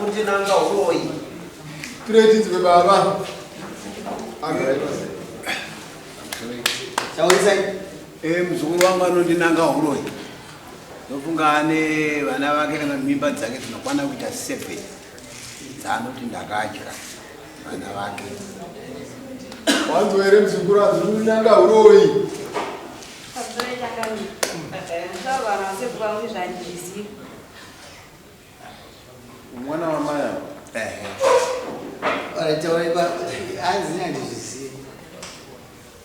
kuti nanga uroyi tiretinzi kwebaba chaoisai eh, muzukuru wangu anondinanga uroyi ndofunga ane vana vake kana mimba dzake dzinokwana kuita seven dzaanoti ndakadya vana vake wanzwa here muzukuru anzi unonyanga uroyi mwana wamaya anzi andizvizivi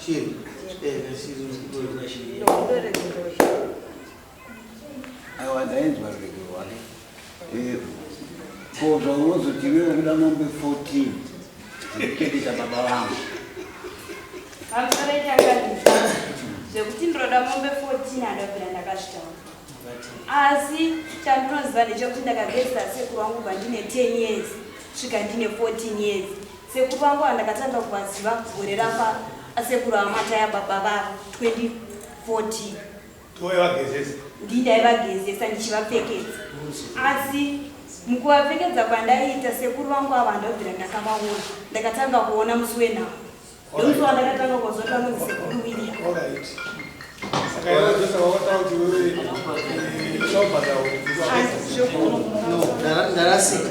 Shiri. Eh, shiri ndoda shiri. Ndoda shiri. Awa ndainzwa rwego wake. Eh. Ko zvaunozoti iwe ukuda mombe 14. Ndikeketa baba vangu. Vamusoreti akandisa zvekuti ndinoda mombe 14 andabvira ndakazvitaura. Asi chandinoziva ndechekuti ndakagezisa sekuru wangu kubva ndine 10 years svika ndine 14 years. Sekuru vangu andakatanga kuvaziva gore rafa asekuru amata yababa vavo 2014 ndii ndaivagezesa ndichivapfekedza asi mukuvapfekedza kwandaiita sekuru vangu ava ndobvira ndakavaona ndakatanga kuona musi wenhau ndomusi wandakatanga kuzoti vanonzi sekuru william ndarasika